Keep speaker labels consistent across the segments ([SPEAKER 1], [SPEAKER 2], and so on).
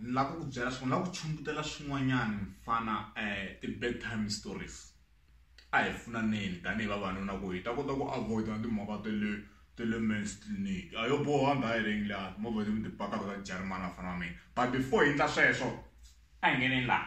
[SPEAKER 1] ni lava ku ku byela swin'wana lava ku chumbutela swin'wanyana mfana um ti-bad time stories a hi pfunaneni tanihi vavanuna ku hi ta kota ku avoida na timhaka ta le ta le mans clinic a yo boha ndha hi rengi laha movha leti mi ti pakaka ka tijarimani vafana va mina but before hi endla sweswo a hi ngeneni laha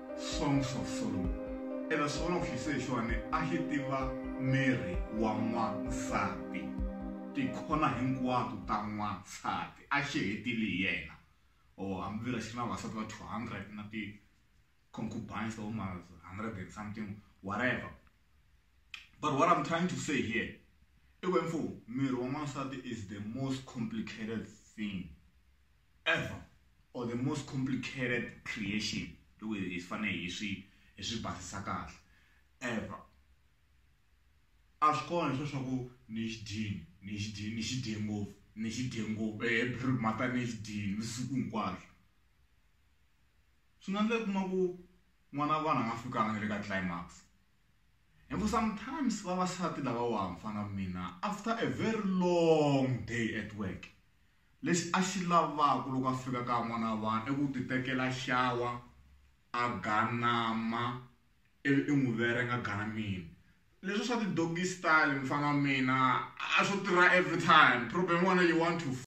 [SPEAKER 1] Songs of Solomon. Ene swona ku xise hi xona a xi tiva miri wa n'wansati tikhona hinkwato ta n'wansati a xi hetile hi yena or hambi vira xi ri na vasati va 200 na ti concubines ta voma 100 and something whatever but what i'm trying to say here i ku mfo miri wa n'wansati is the most complicated thing ever or the most complicated creation loko hi fane hi swi hi swi basisa kahle ever a swi kona leswi swa ku ni xi dyini ni xi dyini ni xi dye ngopfu ni xi dye ngopfu every mhaka ni xi dyini ni siku hinkwaswo swi nga ndla kuma ku n'wana wa vanhu a nga fikanga na le ka climax and for sometimes vavasati lava wa mfana mina after a very long day at work Lexi a xi lavaka loko a fika ka n'wana wa vanhu i ku titekela xawa, a ganama ivi i n'wi verenge a ganamile. Leswiya swa ti-doggy style mfana wa mina a swo tirha every time. Problem ya wena you want to f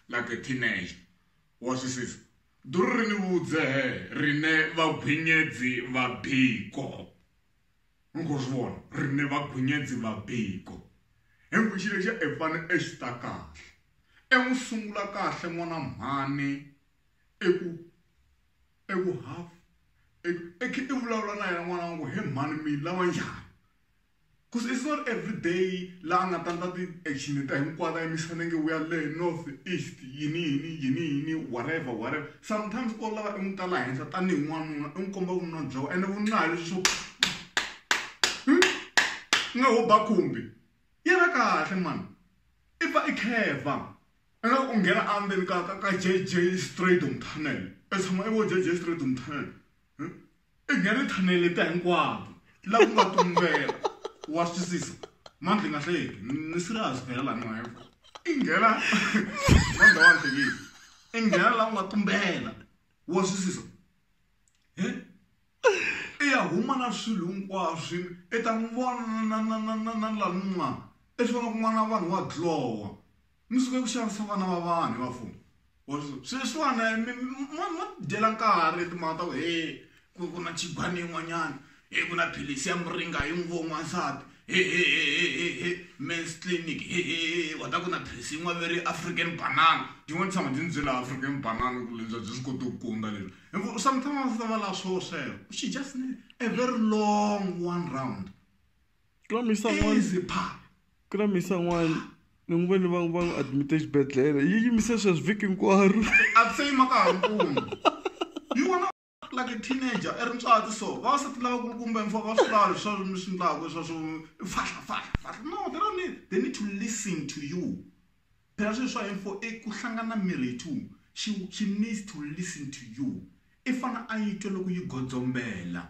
[SPEAKER 1] like a teenager. Wa twisisa? Duru ri ni vudzehe ri ne vagwinyedzi va Biko. mi khou zwi vhona riṋe vhagunyedzi vha biko hengwe tshile tsha efane e xi ta kahle e n'wi sungula kahle n'wana mhani eku eku half e khe i vulavula na yena n'wana wangu he mhani mi lava njhani because it's not every day la a nga ta ndla ti action ta hinkwato a yimisa nenge we are le north east yini yini yini yini whatever whatever Sometimes o lava i n'wi ta la henhla tanihi n'wanuna i n'wi komba vununa bya wena ene vununa hi leswi swo nga ho ba khumbi yena kahle mani i pfa i kheva i nga u nghena endzeni ka ka ka JJ Stradum tunnel i tshama i vo JJ Stradum tunnel i nghena ti-channel letiya hinkwato laha ku nga tumbela wa swi twisisa mandla yi nga hlayeki ni serious phela laha ni nga yaka i nghena mandla wa hlekile i nghena laha ku nga tumbela wa swi twisisa he i ya huma na swilo hinkwaswo i ta n'wi vona na na na na na laha ni n'wana i swi vona kun'wana na vanhu wa dlowa mi suke ku xavisa vana va vanhu hi vafumi or sweswiwana mi dyela nkarhi timhaka ta ku he ku ku na chibani yin'wanyana he ku na philisi ya muringa yi n'wi vo n'wansati hehehehehe mans clinic hehehe wa ta ku na philisi yin'wana veri african banana tin'wana tshama ti ni byela african banana ku lebya byi swi koti ku kunda leswi hi sometimes va lava swo sweswo she just need a very long one round Kula misa n'wana. Easy pha. Kula misa
[SPEAKER 2] n'wana. Ni n'wi voni va va admit exibedhlele. Yi yimise sweswi vhiki hinkwaro. A se yima ka ha
[SPEAKER 1] ri kumi. Yi vona like a teenager i ri ntswati so. Vavasati lava kulukumba mfa va swi lava leswi mi swi ndlaku swa swo fahla fahla fahla no they don't need they need to listen to you. Phela swilo swa info i ku hlangana mirhi yi two she she needs to listen to you i fane a yi twa loko yi godzombela.